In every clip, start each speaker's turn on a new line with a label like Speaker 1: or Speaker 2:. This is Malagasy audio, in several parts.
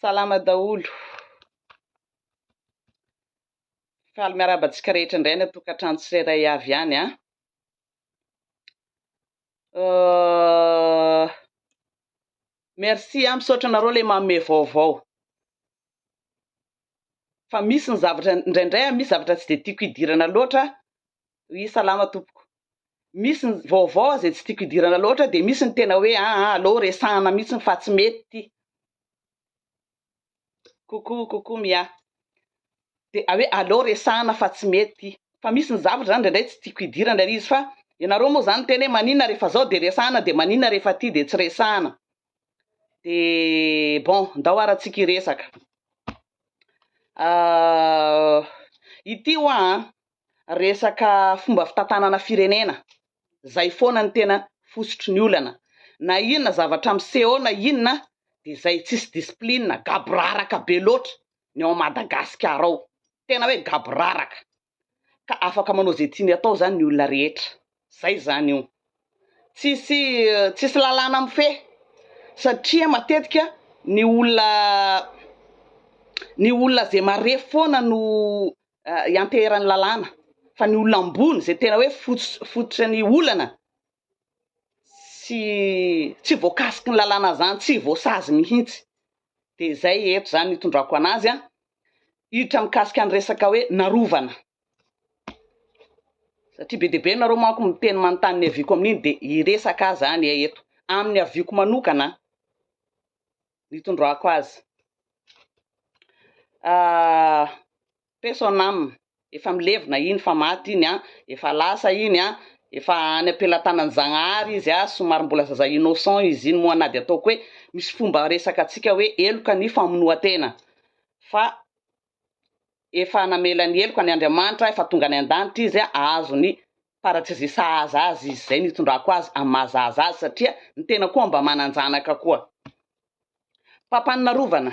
Speaker 1: Salama daholo. Faly miarahaba antsika rehetra indray any an-tokantrano tsirairay avy any an. Euh, merci an, misaotra anareo ilay manome vaovao. fa misy ny zavatra indraindray a misy zavatra tsy de tiako hidirana loatra oui salama tompoko misy ny vaovao a zay tsy tiako hidirana loatra de misy ny tena hoe aa ah, aleo resahana mihitsiny fa tsy mety ty coucou coucou mia de a hoe aleo resahana fa tsy mety ty fa misy ny zavatra zany indraindray tsy tiako hidirana le izy fa ianareo moa zany miteny hoe maninona rehefa zao de resahana de maninona rehefa ty de tsy resahana dia bon ndao ara tsika hiresaka ity hoa an, resaka fomba fitantanana firenena, zay foana no tena fositry ny olana, na inona zavatra miseho na inona dia zay tsisy discipline, gaboraraka be loatra ny ao Madagasikara ao, tena hoe gaboraraka. ka afaka manao izay tiany atao izany ny olona rehetra, izay izany io. Tsisy tsisy lalàna mifehy satria matetika ny olona ny olona izay marefo foana no ianteheran'ny lalàna fa ny olona ambony izay tena hoe fototra ny olana tsy tsy voakasiky ny lalàna zany, tsy voasazy mihitsy. De zay eto zany itondrako anazy an, hiditra mikasika ny resaka hoe narovana, satria be dia be nareo manko miteny manontany ny avioko amin'iny de hiresaka aho zany e eto, amin'ny avioko manokana an, ny itondrako azy. paix son âme, efa milevina iny fa maty iny an, efa lasa iny an, efa any am-pelatanan'i Zagnahary izy an, somary mbola zaza innocent izy iny moa na dia ataoko hoe misy fomba resaka antsika hoe heloka ny famonoan-tena fa efa namela ny heloka ny Andriamanitra, efa tonga any an-danitra izy an, ahazo ny paradisy sahaza azy izy, izay no itondrako azy amin'ny maha zaza azy satria ny tena koa mba manan-janaka koa. Mpampanin'arovana.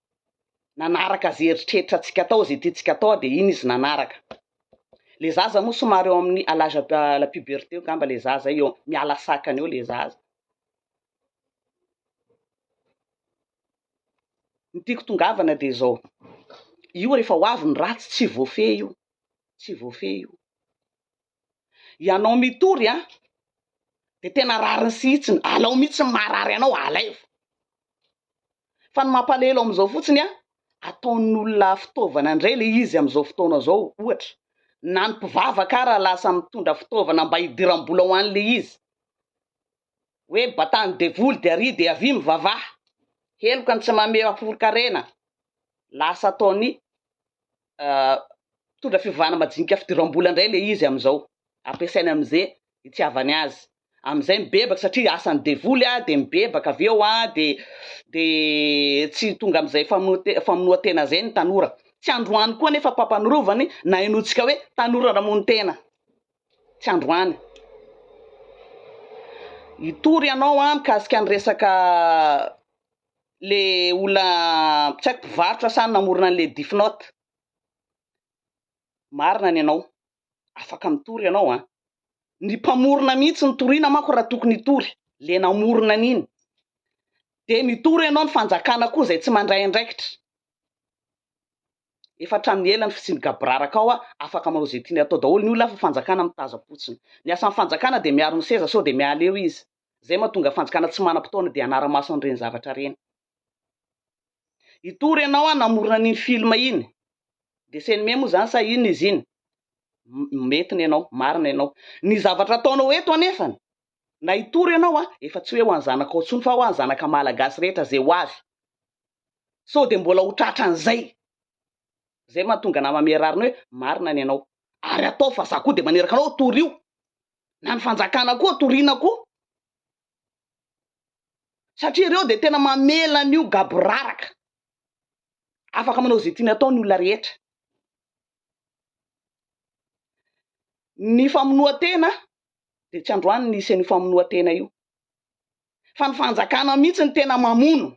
Speaker 1: nanaraka ze eritreritra tsika atao ze tiantsika atao dia iny izy nanaraka le zaza moa somary eo amin'ny à l'âge la puberté eo ngamba le zaza eo miala sakana eo le zaza ny tiako tongavana dia zao io rehefa ho avy ny ratsy tsy voafehy io tsy voafehy io Ianao mitory an! Dia tena rariny sy hitsiny, alao mihitsy ny maharary anao, alaivo. Fa ny mampalahelo amin'izao fotsiny an, ataon'olona fitaovana indray ilay izy amin'izao fotoana izao, ohatra, na ny mpivavaka ara lasa mitondra fitaovana mba hidiram-bola ho an'ilay izy. hoe batany devoly de ary de avia mivavaha, heloka ny tsy mameha foronkarena, lasa ataony mpitondra fivavahana majinika fidiram-bola indray le izy amizao, ampiasainy amize itiavany azy, amizay mibebaka satria asany devoly a, de mibebaka avy eo a, de de tsy tonga amizay famonoa- famonoantena zay ny tanora, tsy androany koa nefa mpampanorovany na inoantsika hoe tanora namono tena. Tsy androany. Hitory ianao an mikasika ny resaka le olona tsy haiko mpivarotra sa namorona an'le Death Note. Marina ny anao. Afaka mitory ianao an. Ny mpamorona mihitsy no toriana manko raha tokony hitory. Le namorona an'iny. De mitory ianao ny fanjakana koa izay tsy mandray andraikitra. Efa hatramin'ny ela ny fisian'ny gaboraraka ao a, afaka manao izay tiany atao daholo ny olona fa fanjakana mitazam-potsiny. Ny asan'ny fanjakana dia miaro ny seza sao dia miala eo izy. Izay mahatonga ny fanjakana tsy manam-potoana dia hanara-maso an'ireny zavatra ireny. Hitory ianao a namorona an'iny film iny, dessin anime moa izany sa inona izy iny? mety ny anao, marina ianao. Ny zavatra ataonao eto anefany, na hitory ianao a, efa tsy hoe ho an'ny zanakao intsony fa ho an'ny zanaka malagasy rehetra izay ho avy. sao dia mbola ho tratran'izay, izay no mahatonga anah mamehy rariny hoe marina ny anao, ary ataovy fa za koa dia maneraka anao hoe torio, na ny fanjakana koa toriana koa, satria ireo dia tena mamela an'io gaboraraka, afaka manao izay tiany atao ny olona rehetra, ny famonoan-tena dia tsy androany nisy an'io famonoan-tena io. fa ny fanjakana mihitsy no tena mamono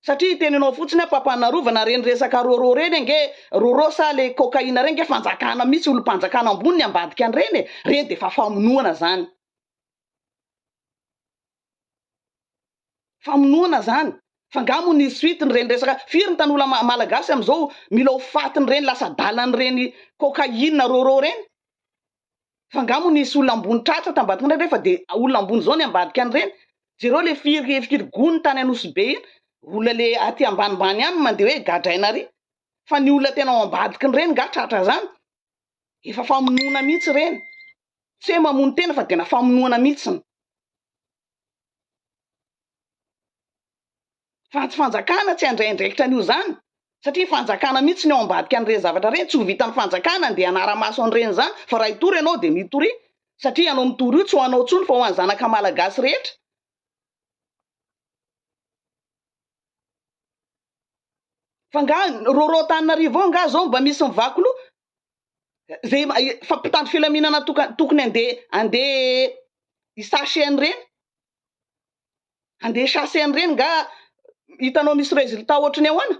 Speaker 1: satria hiteny anao fotsiny aho Papanarovana reny resaka rôrô reny ange rôrô sa le cocaïne reny ange fanjakana mihitsy olompanjakana ambony ny ambadika an'ireny e, reny dia efa famonoana zany. Famonoana zany. Fa nga mo nisy suite ny reny resaka firy ny tanola malagasy amizao mila ho faty ny reny lasa adala ny reny cocaïne rôrô reny. fa nga moa nisy olona ambony tratra tambadika indray ve fa de olona ambony zao ny ambadika an'ireny, jereo le firy firy gony tany Anosy be iny, olona le aty ambanimbany ihany no mandeha hoe gadraina ary, fa ny olona tena ao ambadikin'ireny nga tratra zany, efa famonoana mihitsy ireny, tsy hoe mamono tena fa dena famonoana mihitsiny. Fa tsy fanjakana tsy handray andraikitra an'io zany satria fanjakana mihitsy ny ao ambadika an'ireny zavatra ireny, tsy ho vitan'ny fanjakana andeha hanara-maso an'ireny izany fa raha hitory ianao dia mitoria satria ianao mitory io tsy ho anao tsony fa ho an'ny zanaka malagasy rehetra. Fa nga rôrô Antananarivo ao nga zao mba misy mivaky loha? zay fa mpitandro filaminana tokony ande ande hi sache an'ireny ande hi chasse an'ireny nga hitanao misy resultat ohatry ny ahoana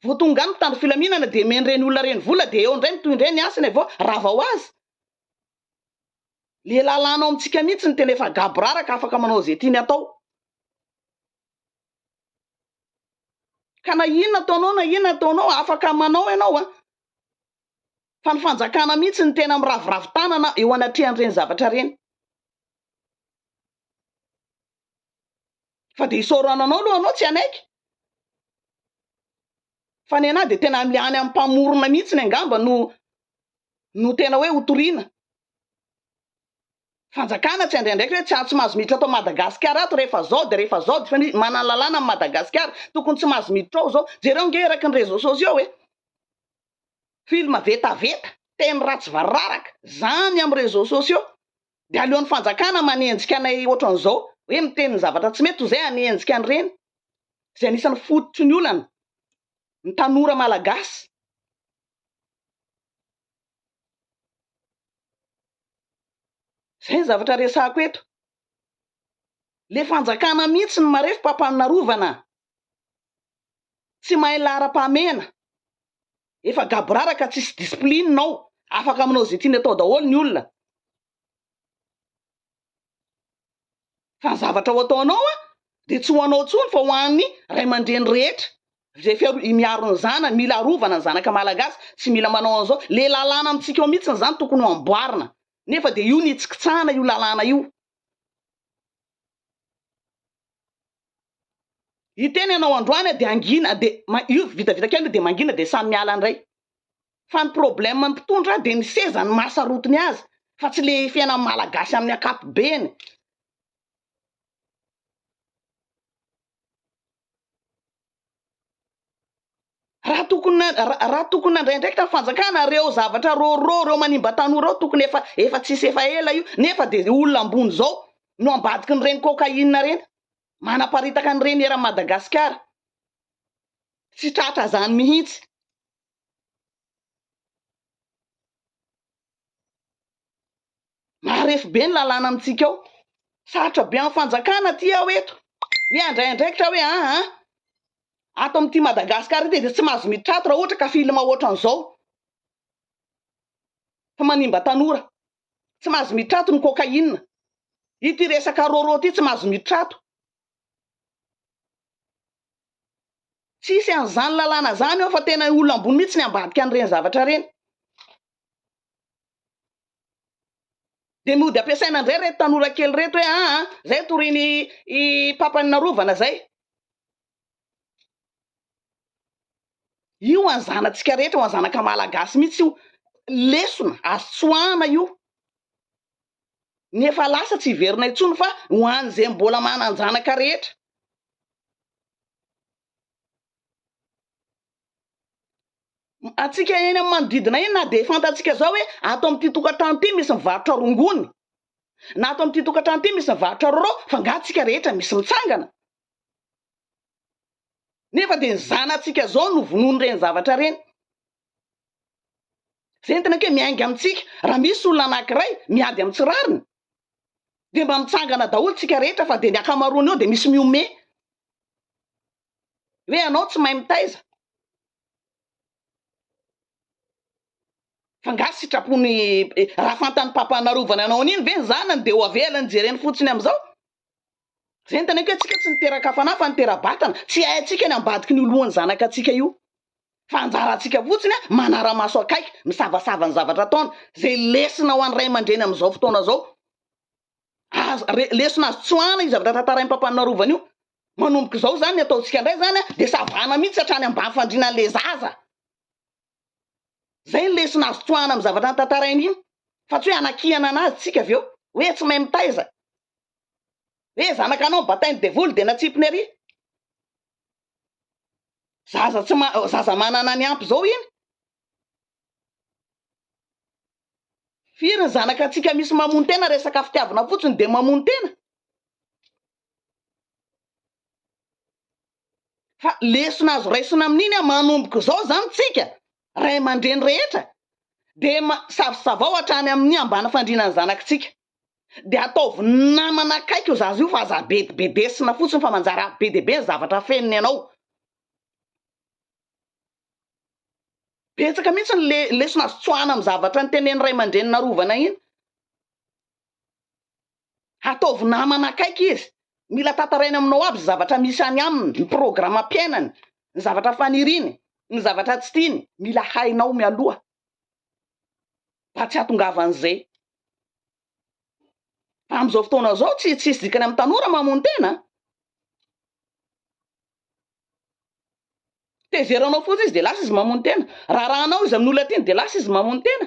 Speaker 1: vao tonga any mpitandro filaminana de men'ireny olona ireny vola de eo indray mitohy indray ny hasiny vao rava ho azy le lalàna ao amintsika mihitsy ny tena efa gaboraraka afaka manao ze tiany atao Ka na inona ataonao na inona ataonao afaka manao ianao an! Fa ny fanjakana mihitsy no tena miraviravy tanana eo anatrehan'ireny zavatra ireny. Fa dia isaorana anao aloha anao tsy hanaiky. Fa nenaha dia tena any amin'ny mpamorona mihitsy angamba no no tena hoe ho toriana. fanjakana tsy handray andraikitra hoe tsy tsy mahazo miditra ato Madagasikara ato rehefa zao dia rehefa zao fa ny manana lalàna ny Madagasikara tokony tsy mahazo miditra ao zao jereo nge eraky ny réseaux sociaux e film vetaveta teny ratsy vararaka zany amin'ny réseaux sociaux dia aleon'ny fanjakana manenjika anay ohatran'izao hoe miteny ny zavatra tsy mety toy izay hanenjika an'ireny izay anisan'ny fototry ny olana ny tanora malagasy Zay zavatra resahako eto. Le fanjakana mihitsy no marefo mpampano narovana. Tsy mahay laharam-pahamehana. Efa gaboraraka tsisy discipline ao. Afaka manao ze tiany atao daholo ny olona. fa ny zavatra ho ataonao an dia tsy ho anao tsony fa ho an'ny ray aman-dreny rehetra izay fiaro i miaro ny zanany mila arovana ny zanaka malagasy tsy mila manao an'izao le lalàna amintsika ao mihitsy ny zany tokony ho amboarina nefa dia io ny hitsikitsahana io lalàna io Hiteny ianao androany dia hangina dia io vitavita kely io dia mangina dia samy miala indray. Fa ny problème ny mpitondra dia ny seza no maha sarotiny azy fa tsy le fiainan'ny malagasy amin'ny ankapobeny. Raha tokony raha tokony nandray andraikitra ny fanjakana ireo zavatra rôrô ireo manimba tanora ireo tokony efa efa tsisy efa ela io nefa de olona ambony zao no ambadiky ny reny cocaïne ireny manaparitaka ny reny eran'i Madagasikara tsy tratra zany mihitsy Marefo be ny lalàna amintsika ao. Sarotra be amin'ny fanjakana aty aho eto. Hoe handray andraikitra aho hoe an an. Ato amin'ity Madagasikara ity dia tsy mahazo miditra ato raha ohatra ka film ohatran'izao. Fa manimba tanora. Tsy mahazo miditra ato ny cocaïne. Ity resaka rôrô ity tsy mahazo miditra ato. Tsisy an'izany lalàna izany ao fa tena olona ambony mihitsy ny ambadika an'ireny zavatra ireny. Dia mody ampiasaina indray ireto tanora kely ireto hoe aa izay no torian'i papan'i narovana izay. Io ho an'ny zanatsika rehetra, ho an'ny zanaka malagasy mihitsy io. Lesona azo tsoahana io. Ny efa lasa tsy hiverina intsony fa ho an'izay mbola manan-janaka rehetra. Antsika eny amin'ny manodidina eny na dia fantantsika izao hoe ato amin'ity tokantrano ity misy mivarotra rongony na ato amin'ity tokantrano ity misy mivarotra roro fa nga tsika rehetra misy mitsangana nefa dia ny zanatsika izao no vonoin'ireny zavatra ireny Ventina kay miainga amintsika raha misy olona anankiray miady amin'ny tsy rariny dia mba mitsangana daholo tsika rehetra fa dia ny ankamaroany eo dia misy mihomehy hoe ianao tsy mahay mitaiza fa nga sitrapony raha fantany papa narovana anao an'iny ve ny zanany dia ho avelany jereny fotsiny amin'izao Ventana io ka tsika tsy niteraka fanahy fa nitera-batana, tsy haintsika ny ambadiky ny ho lohan'ny zanakatsika io. Fa anjarantsika fotsiny an, manara-maso akaiky, misavasava ny zavatra ataony, zay lesona ho an'ny ray aman-dreny amin'izao fotoana zao. Azo, re, lesona azo tsoahana io zavatra tantarain'i Papa Narovany io. Manomboka izao zany ny ataontsika ndray zany an, de savana mihitsy hatrany ambany fandriana an'le zaza. Zay ny lesona azo tsoahana amin'ny zavatra notantarainy iny fa tsy hoe hanakihana anazy tsika avy eo hoe tsy mahay mitaiza hoe zanaka anao batain'ny devoly dia natsipiny ary zaza tsy ma zaza manana ny ampy zao iny firy ny zanaka antsika misy mamono tena resaka fitiavana fotsiny dia mamono tena Fa lesona azo raisina amin'iny an, manomboka izao izany tsika ray aman-dreny rehetra dia savosavao hatrany amin'ny ambany fandriana ny zanakitsika, dia ataovy namana akaiky io zaza io fa aza bedibedesina fotsiny fa manjary avy be dia be ny zavatra afeniny ianao. Betsaka mihitsy ny le, lesona azo tsoahina amin'ny zavatra nitenenin'ny ray aman-drenin'arovana iny. Ataovy namana akaiky izy. Mila tantarainy aminao aby ny zavatra misy any aminy, ny programam-piainany, ny zavatra faniriany, ny zavatra tsy tiany. Mila hainao mialoha mba tsy hahatongavan'izay. Fa amin'izao fotoana izao, tsy tsisy dikany amin'ny tanora mamono tena an! Tezeranao fotsiny izy dia lasa izy mamono tena. Raharahanao izy amin'ny olona tiany dia lasa izy mamono tena.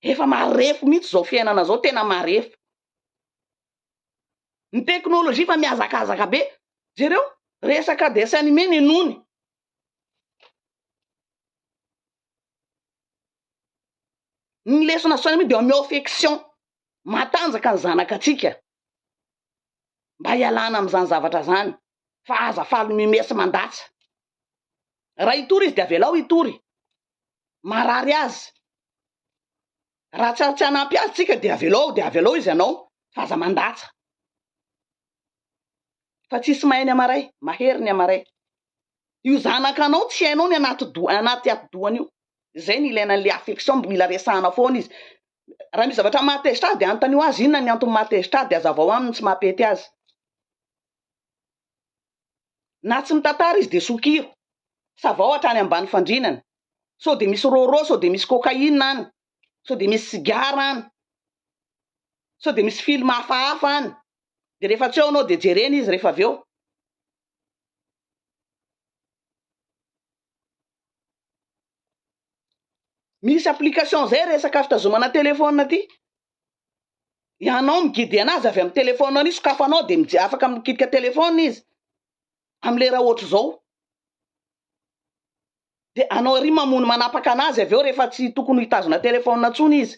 Speaker 1: Efa marefo mihitsy izao fiainana izao, tena marefo. Ny teknolojia efa mihazakazaka be. Jereo, resaka dessin animé ny nony. Ny lesona dessin animé dia omeo affection, matanjaka ny zanakatsika mba hialana amin'izany zavatra izany. fa aza faly mumer sy mandatsa. Raha hitory izy dia avelao hitory. Marary azy. Raha tsy tsy hanampy azy tsika dia avelao dia avelao izy ianao fa aza mandatsa. Fa tsisy mahay ny amaray, mahery ny amaray. Io zanakanao tsy hainao ny anaty do anaty atidohany io. Izay ny ilaina an'ilay affection mb mila resahana foana izy. Raha misy zavatra mahatezitra azy dia anontanio azy inona ny antony mahatezitra azy dia azavao aminy ny tsy maha-pety azy. Na tsy mitantara izy dia sokiro. Savao hatrany ambany fandrinana. Sao dia misy rôrô, sao dia misy cocaïne any. Sao dia misy sigara any. Sao dia misy film hafahafa any. Dia rehefa tsy ao ianao dia jerena izy rehefa avy eo. Misy application zay resaka fitazomana téléphone aty. Ianao migidy anazy avy amin'ny téléphone an'io sokafanao dia mije afaka mikitika téléphone izy amin'ny lera ohatry zao. Dia anao ery mamono manapaka anazy avy eo rehefa tsy tokony hitazona téléphone tsony izy.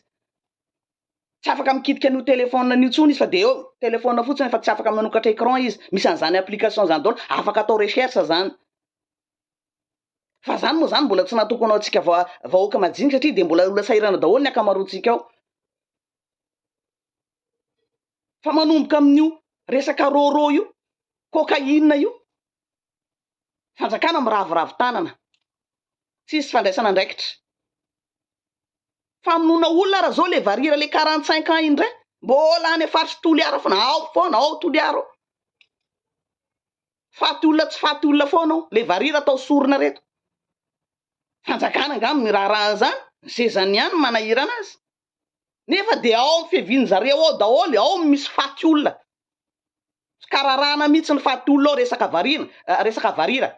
Speaker 1: Tsy afaka mikitika an'io téléphone an'io tsony izy fa dia eo téléphone fotsiny fa tsy afaka manokatra écran izy. Misy an'izany application zany daholo, afaka atao recherche zany. Fa zany moa zany mbola tsy natokona ho antsika va- vahoaka majinika satria dia mbola olona sahirana daholo ny ankamaroantsika ao. Fa manomboka amin'io resaka rôrô io, cocaïne io, fanjakana miraviravy tanana, tsisy fandraisana andraikitra. Famonoana olona ary zao le varira le 45 ans indray, mbola any faritry Toliara foana, ao foana, ao Toliara ao. Faty olona tsy faty olona foana ao le varira atao sorona reto. Fanjakana angaha no miraharaha an'izany? Ny sezany ihany no manahirana azy. Nefa dia ao amin'ny fiavian'ny zareo ao daholo ao no misy faty olona. Tsy kararahana mihitsy ny faty olona ao resaka varina, eh, resaka varira.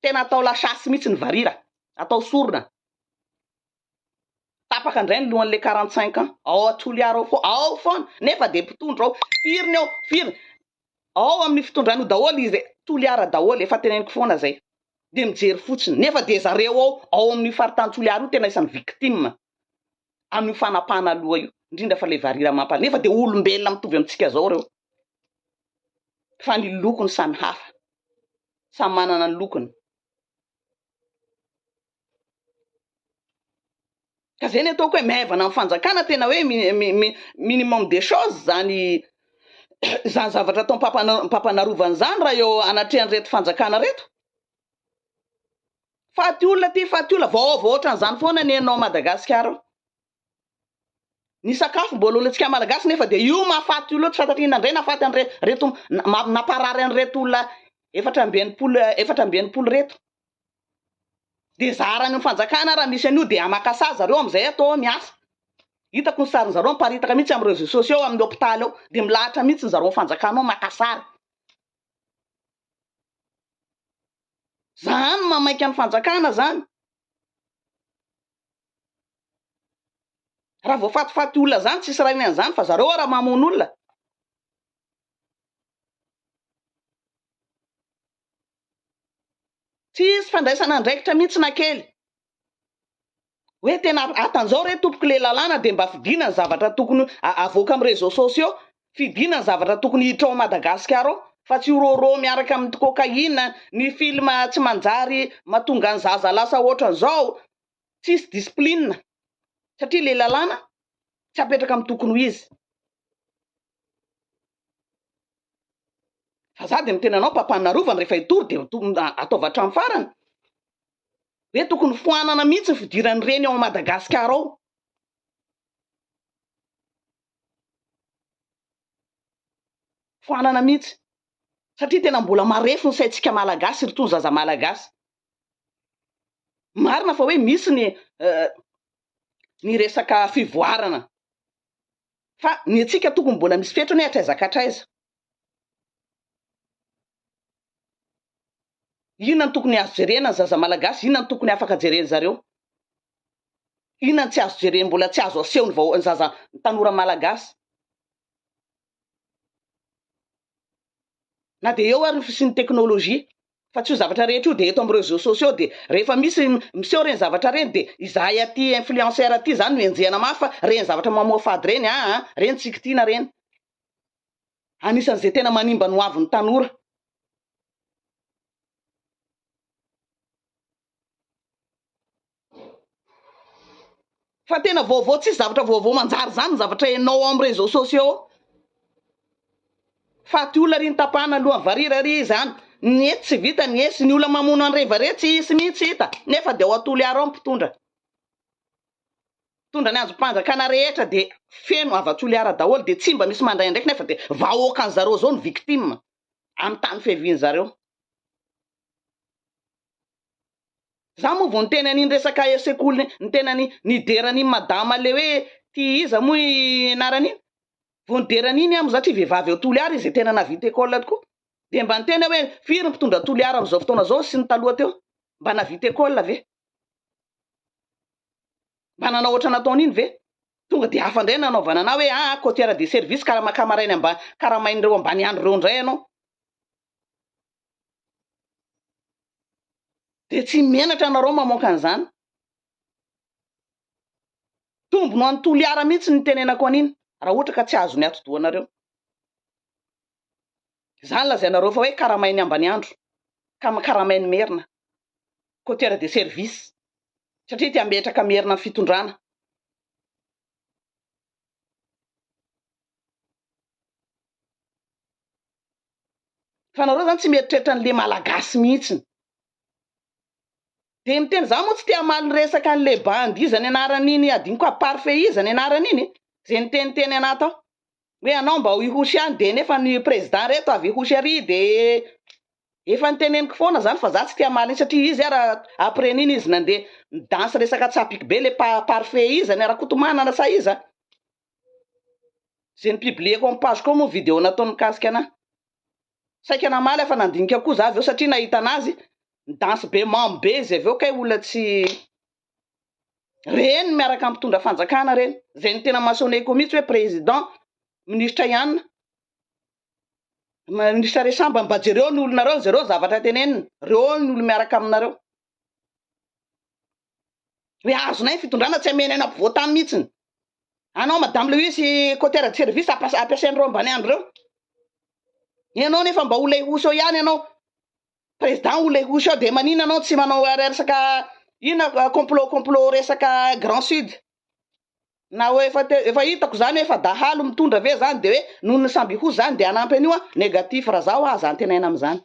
Speaker 1: Tena atao la chasse mihitsy ny varira. Atao sorona. Tapaka indray ny lohan'ilay quarante cinq ans. Ao Toliara ao foana, ao foana, nefa dia mpitondra ao. Firy ny ao, firy. Ao amin'ny fitondrany io daholo izy e. Toliara daholo, efa teneniko foana izay. Dia mijery fotsiny. Nefa dia zareo ao, ao amin'io faritany Toliara io tena isan'ny victime amin'io fanapahana loha io. Indrindra fa ilay varira mampalahelo. Nefa dia olombelona mitovy amintsika izao ireo. Fa ny lokony samy hafa. Samy manana ny lokony. Ka zay ny ataoko hoe maivana ny fanjakana tena hoe minimum des choses zany zany zavatra atao ampapanarovana zany raha eo anatrehan reto fanjakana reto. Faty olona ty faty olona vahoava ohatran'izany foana ny ao Madagasikara ao. Ny sakafo mbola olontsika malagasy nefa dia io mahafaty io loatra sanatria nandray nahafaty an're reto namparary an'ireto olona efatra amby enimpolo efatra amby enimpolo reto. Dia zaharan'ny fanjakana raha misy an'io dia maka sazy zareo amin'izay atao hoe miasa. Hitako ny sarin'ny zareo miparitaka mihitsy amin'ny réseaux sociaux ao amin'ny hôpitaly ao dia milahatra mihitsy ny zareo fanjakana ao maka sary. Zany mamaika ny fanjakana zany. Raha voafatifaty olona zany tsisy rainy an'izany fa zareo ara mamono olona. Tsisy fandraisana andraikitra mihitsy na kely. Hoe tena atan'izao re tompoko le lalàna dia mba fidiana ny zavatra tokony avoaka amin'ny réseaux sociaux Fidiana ny zavatra tokony hiditra ao Madagasikara ao fa tsy rôrô miaraka amin'ny cocaïne, ny film tsy manjary matonga ny zaza lasa hoatran'izao, tsisy discipline satria ilay lalàna tsy apetraka amin'ny tokony ho izy. Fa za dia miteny anao Papa ny Arovany rehefa hitory dia ataovy hatramin'ny farany hoe tokony foanana mihitsy ny fidiran'ireny ao Madagasikara ao. foanana mihitsy satria tena mbola marefo ny saintsika malagasy ry tony zaza malagasy marina fa hoe misy ny ny resaka fivoarana fa ny antsika tokony mbola misy fetrany hatraiza ka hatraiza Inona no tokony azo jerena ny zaza malagasy, inona no tokony afaka jeren zareo, inona no tsy azo jeren mbola tsy azo aseho ny vahoa ny zaza ny tanora malagasy. Na dia eo ary ny fisian'ny teknolojia fa tsy io zavatra rehetra io dia eto amin'ny reseaux sociaux dia rehefa misy miseho ireny zavatra ireny dia izahay aty influenceur aty izany no enjehina mafy fa ireny zavatra mamoafady ireny aa ireny tsy kitiana ireny. Anisan'izay tena manimba ny hoavin'ny tanora. Fa tena vaovao tsisy zavatra vaovao manjary izany ny zavatra henao ao amin'ny réseaux sociaux ao. Faty olona ry ny tapahana ny lohan'ny varira ry izany. Ny etsy tsy vita ny esy, ny olona mamono an'i Reva re tsy hisy mihitsy hita, nefa dia ao Toliara ao ny mpitondra. Mitondra ny andrim-panjakana rehetra dia feno hava-toliara daholo dia tsy mba misy mandray andraikiny afa dia vahoakan zareo zao no victime amin'ny tany fiavian zareo. Za moa vao niteny an'iny resaka sekoly niteny an'i nidera an'iny madama le hoe ty iza moa i anarany iny vao nidera an'iny aho moa zatria vehivavy ao toliara izy tena navita école tokoa dia mba niteny aho hoe firy ny mpitondra toliara amin'izao fotoana zao sy ny taloha teo mba navita école ve Mba nanao ohatra nataon'iny ve? Tonga dia hafa indray ny nanaovana anà hoe aa cotière de service ka raha makà maraina mba karamain'ireo ambaniandro ireo indray ianao dia tsy menatra ianareo mamoaka an'izany. Tombony ho an'i Toliara mihitsy ny nitenenako an'iny raha ohatra ka tsy azony atidohanareo. Izany lazainareo fa hoe karamain'i Ambaniandro ka karamain'i Merina, coteur de service, satria te hambetraka Merina amin'ny fitondrana. Fa nareo zany tsy mieritreritra an'le malagasy mihitsiny. Dia miteny za moa tsy te hamaly ny resaka an'le bandy iza ny anaran'iny adinoko à parfait iza ny anaran'iny e, ze niteniteny anah tao. hoe anao mba ho ihosy any dia nefa ny président reto avy ihosy ary dia efa niteneniko foana zany fa za tsy tia hamaly satria izy ara après nini izy nandeha nidansy resaka tsapiko be le pa parfait iza ny rakotomanana sa iza ze nipublieko am page ko moa video nataony mikasika anah saika namaly aho fa nandinika koa za avy eo satria nahita anazy nidansy be mamo be izy avy eo kay olona tsy Reny miaraka amin'ny mpitondra fanjakana reny. Izay ny tena masoner ko mihitsy hoe président, ministra ihany. Ministra Resamba mba jereo ny olonareo, jereo zavatra teneniny. Reo ny olo miaraka aminareo. Hoe azonay ny fitondrana tsy amenay na mpivoatany mihitsiny. Anao madame Lewis Cotera de service ampiasain'ireo ambaniandro reo. Ianao nefa mba ho lehoseo ihany ianao. Président ou legoso ao de manina anao tsy manao resaka inona complot complot resaka grand sud na oe efa te efa hitako zany oe efa dahalo mitondra ve zany de oe noho ny samby ho zany de hanampy an'io an negatif ra zaho aza antenaina amzany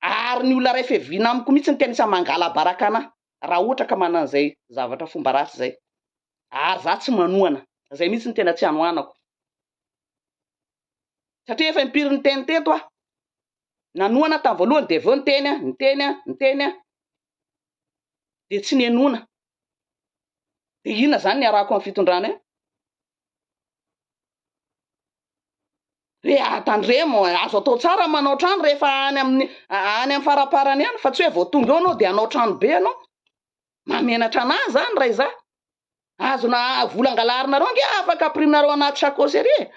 Speaker 1: ary ny olona ray feviana amiko mitsy no tena isan'ny mangalabaraka anah ra ohatra ka manana an'izay zavatra fomba ratsy zay ary za tsy manohana zay mitsy no tena tsy anohanako satria efa impiry niteny teto aho Nanohana tamin'ny voalohany dia avy eo niteny aho, niteny aho, niteny aho. Dia tsy nihenoana. Dia inona izany ny arahako amin'ny fitondrana eo? Re tandremo, azo atao tsara manao trano rehefa any amin'ny any amin'ny faraparany any fa tsy hoe vao tonga eo anao dia hanao trano be anao. Mahamenatra anà izany raha izaho. Azona vola angalarinareo ange afaka ampirimnareo anaty chacosserie.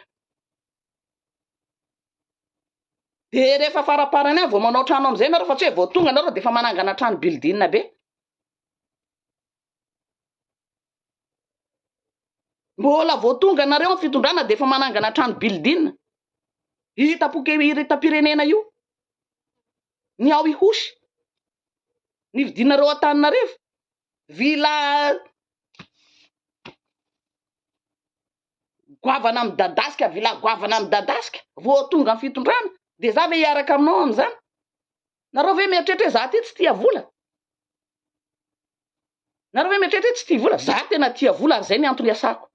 Speaker 1: Dia rehefa faraparany any vao manao trano amin'izay ianareo fa tsy hoe vao tonga ianareo dia efa manangana trano building be. Mbola vao tonga ianareo amin'ny fitondrana dia efa manangana trano building. Hitam-po kely hitam-pirenena io. Ny ao Ihosy. Ny fidinareo Antananarivo. Vila goavana midadasika vila goavana midadasika vao tonga ny fitondrana de za ve hiaraka aminao amzany nareo ve mieritreritra hoe za ty tsy tia vola nareo ve mieritreritra hoe tsy tia vola za tena tia vola ary zay ny antony iasako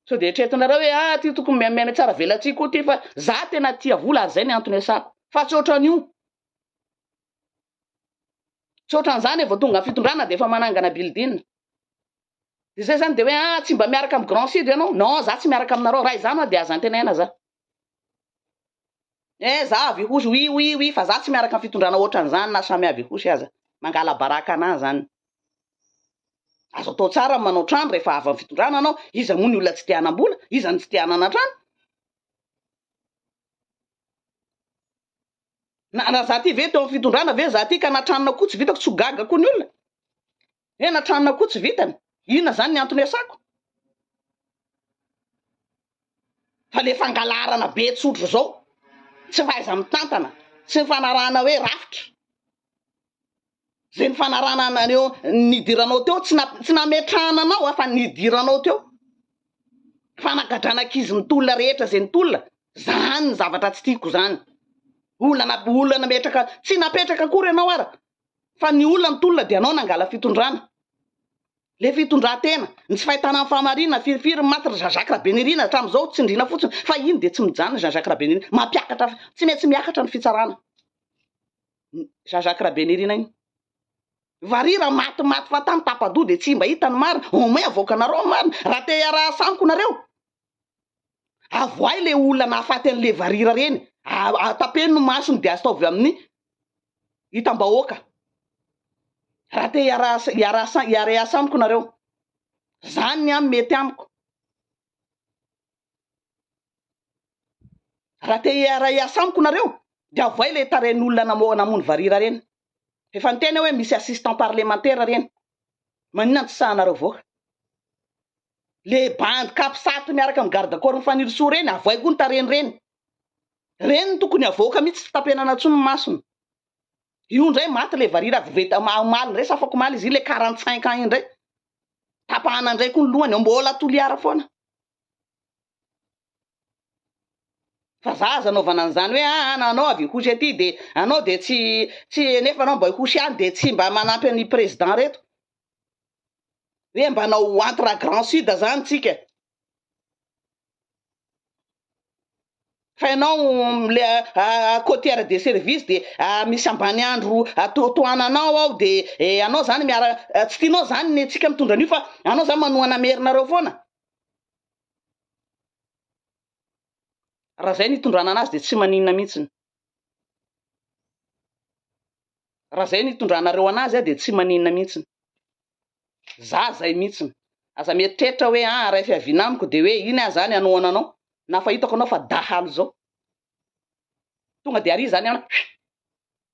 Speaker 1: sao de eritreretinareo hoe ah ty tokony miamiamy tsara velatsihy koa ty fa za tena tia vola ary zay ny antony iasako fa tsy ohatran'io Tsy ohatran'izany e, vao tonga amin'ny fitondrana dia efa manangana building. Dia izay izany dia hoe ah tsy mba miaraka amin'ny Grand Sud ianao? Non, za tsy miaraka aminareo, raha izany hoa dia aza antenaina za. Eh za avy Ihosy, oui oui oui fa za tsy miaraka amin'ny fitondrana ohatran'izany na samy avy Ihosy aza. Mangala-baraka anah izany. Azo atao tsara ny manao trano rehefa avy amin'ny fitondrana anao, iza moa ny olona tsy te hanam-bola, iza no tsy te hanana trano? Na raha za ty ve teo am fitondrana ve za ty ka natranona koa tsy vitako tsy ho gaga koa ny olona hoe natranona koa tsy vitany inona zany ny antony asako fa le fangalarana be tsotra zao tsy fahaiza mitantana tsy fanarahana hoe rafitra Zay nifanarahana anareo nidiranao teo tsy na- tsy nametrahana anao a fa nidiranao teo. Fanagadrana ankizy ny tolona rehetra zay ny tolona, zany ny zavatra tsy tiako zany. Olana olana metraka tsy napetraka akory ianao ara fa ny olona ny tolona dia anao nangala fitondrana. Le fitondratena, ny tsy fahitana ny fahamarinana, firifiry ny maty ry Jean Jacques Rabenirina hatramin'izao tsindriana fotsiny fa iny dia tsy mijanona Jean Jacques Rabenirina. Mampiakatra, tsy maintsy miakatra ny fitsarana. Jean Jacques Rabenirina iny. Varira maty maty fa tany tapadoha dia tsy mba hita ny marina. Au moins avoakanareo ny marina raha te hiaraha samiko nareo. Avoahy le olona nahafaty an'le varira reny. Atapeno ny masony dia astaovy amin'ny hitam-bahoaka. Raha te hiaraha hiaraha hiaraha samiko nareo. Zany ny amin mety amiko. Raha te hiara-hiasa amiko nareo dia avoay le tarehin'olona namoha namono varira reny. Efa niteny aho hoe misy assistant parlemantera reny. Maninona no tsy sahanareo voaka. Le bandy capsat miaraka amin'ny garde corps-n'i Fanirisoa reny avoay koa ny tarehiny reny. Reny no tokony havoaka mihitsy tsy tapenana intsony ny masony. Io indray maty le varira voveta omaly indray sy afakomaly izy iny le quarante cinq ans iny indray. tapahana ndray koa ny lohany ao mbola toliara foana fa za aza anaovana an'izany hoe ah, ah nanao avy hosy aty de anao de tsy tsy nefa anao mba hosy any de tsy mba manampy an'i président reto hoe mba anao entre grand sud zany tsika fa ianao le côtière de service de misy ambany andro tohananao ao de ianao zany miara tsy tianao zany ny antsika mitondra an'io fa anao zany manohana merinareo foana raha zay ny itondrana anazy de tsy maninona mihitsiny raha zay ny itondranareo anazy ah de tsy maninona mihitsiny za zay mihitsiny, aza mieritreritra hoe aa ray fiaviana amiko dia hoe iny aho zany hanohana anao na fa hitako anao fa dahalo izao tonga dia ary zany an huiimm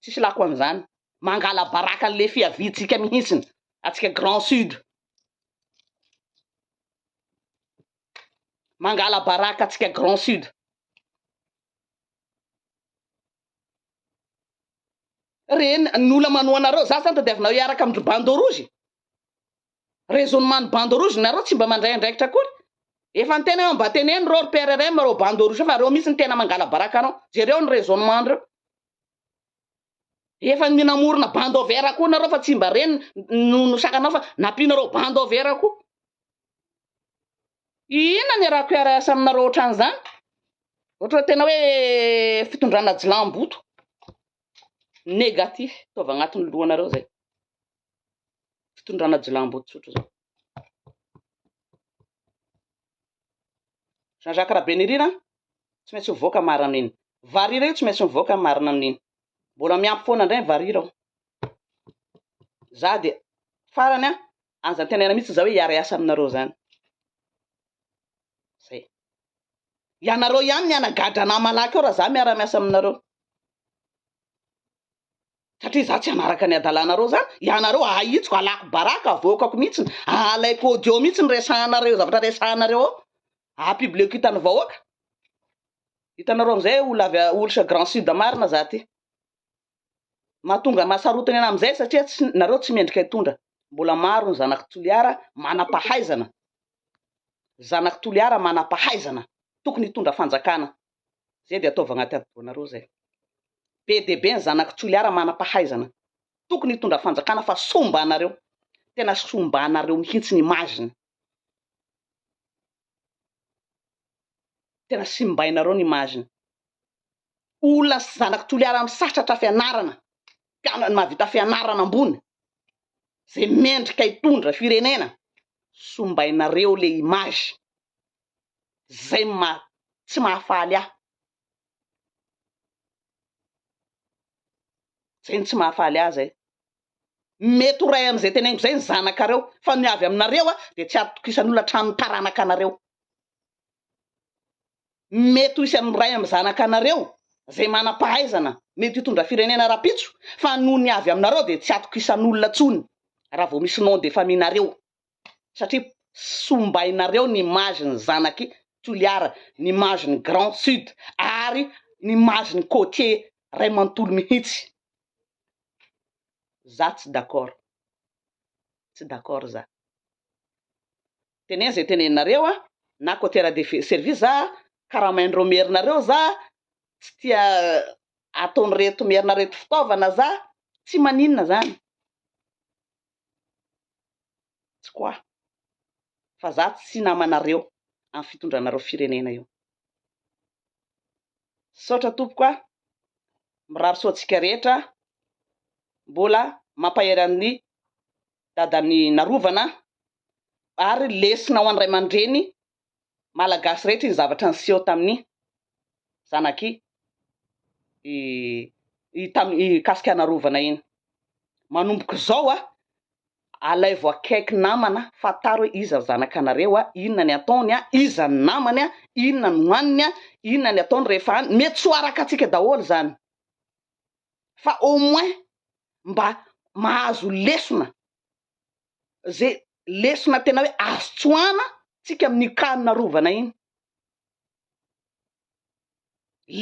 Speaker 1: tsisy lako an'izany, mangala baraka an'le fiaviantsika mihitsiny atsika grand sud, mangala baraka atsika grand sud. Reny ny olona manoa anareo, za zany tadiavinareo hiaraka amin-dry bandeau rouge? Raisonnement ny bandeau rouge nareo tsy mba mandray andraikitra akory? Efa niteny aho mba teneno reo ry PRRM reo bandeau rouge fa reo mihintsy no tena mangalabaraka anao, jereo ny raisonnement ndreo. Efa ny namorona bandeau vert koa nareo fa tsy mba reny no no sakanao fa nampianareo bandeau vert koa. Inona no iarahako hiara-hiasa aminareo ohatran'izany? Ohatran'ny tena hoe fitondrana ajilamboto négatif to avy agnatin'ny lohanareo izay. Fitondrana ajilamboto tsotra izao. Jean Jacques Rabenirina tsy maintsy mivoaka marina amin'iny. Varira io tsy maintsy mivoaka marina amin'iny. Mbola miampy foana indray ny varira ao. Za dia farany a, aza antenaina mihitsy za hoe hiara-hiasa aminareo zany. Zay. Ianareo ihany ny hanagadra anah malaky ao raha za miara-miasa aminareo. Satria za tsy hanaraka ny adalanareo zany, ianareo ahitsiko, alako baraka, avoakako mihitsy, alaiko audio mihitsy ny resahanareo, zavatra resahanareo ao. Apibleko hitan'ny vahoaka. Hitanareo amizay olo avy olo chez Grand Sud marina za ty. Mahatonga mahasarotiny ana amizay satria tsy nareo tsy mendrika hitondra. Mbola maro ny zanaky Toliara manapahaizana. Zanaky Toliara manapahaizana. Tokony hitondra fanjakana. Zay dia ataovy agnaty hadidoanareo zay. Be dia be ny zanaky Toliara manapahaizana. Tokony hitondra fanjakana fa sombanareo. Tena sombanareo mihintsy ny image-ny. Tena simbainareo ny image-ny. Olona sy zanak'i Toliara amin'ny satratra fianarana, mpianany mahavita fianarana ambony, zay mendrika hitondra firenena, sombainareo le image. Zay no maha tsy mahafaly ahy. Zay no tsy mahafaly ahy zay. Mety ho ray amin'izay teneniko izay ny zanakareo, fa ny avy aminareo dia tsy hatokisan'olona hatramin'ny taranakanareo. Mety ho isan'ny ray amin'ny zanakanareo izay manam-pahaizana mety hitondra firenena rahampitso, fa noho ny avy aminareo dia tsy hatokisan'olona intsony raha vao misy nom de famille nareo, satria sombainareo ny image ny zanak'i Toliara, ny image ny Grand Sud ary ny image ny côtier ray manontolo mihitsy. Za tsy d'accord. Tsy d'accord za. Teneno zay teneninareo a, na coter de service za, karamain'ireo merinareo za, tsy tia ataon'ireto merina reto fitaovana za, tsy maninona zany. tsy quoi fa za tsy namanareo am fitondranareo firenena io misaotra tompoko a mirary soa antsika rehetra mbola mampahery an'ny dadan'ny narovana ary lesona ho an'ny ray aman-dreny Malagasy rehetra iny zavatra niseho tamin'i zanak'i mikasika an'arovana iny. Manomboka izao a, alaivo akaiky namana, fantaro hoe iza ny zanakanareo a, inona ny ataony a, iza ny namany a, inona no haniny a, inona ny ataony rehefa any, mety tsy ho araka antsika daholo izany fa au moins mba mahazo lesona ze lesona tena hoe azo tsoahana tsika amin'io cas narovana iny.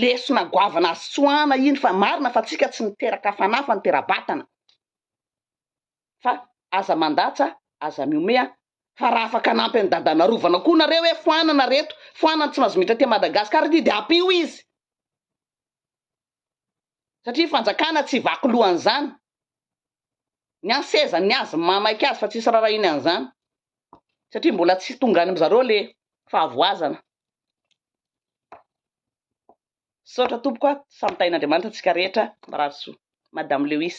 Speaker 1: Lesona goavana azo tsoahana iny fa marina fa tsika tsy niteraka fanahy fa nitera-batana. Fa aza mandatsa, aza mihomeha fa raha afaka hanampy an'i Dada narovana koa nareo hoe foanana reto, foanana tsy mahazo miditra aty Madagascar ity de ampio izy. satria fanjakana tsy vaky loha an'izany, ny an seza ny azy maimaika azy fa tsisy rarahiany an'izany satria mbola tsy tonga any amzareo le fahavoazana. Misaotra tompoko a, samy tahin'Andriamanitra antsika rehetra, mirary soa. Madame Lewis.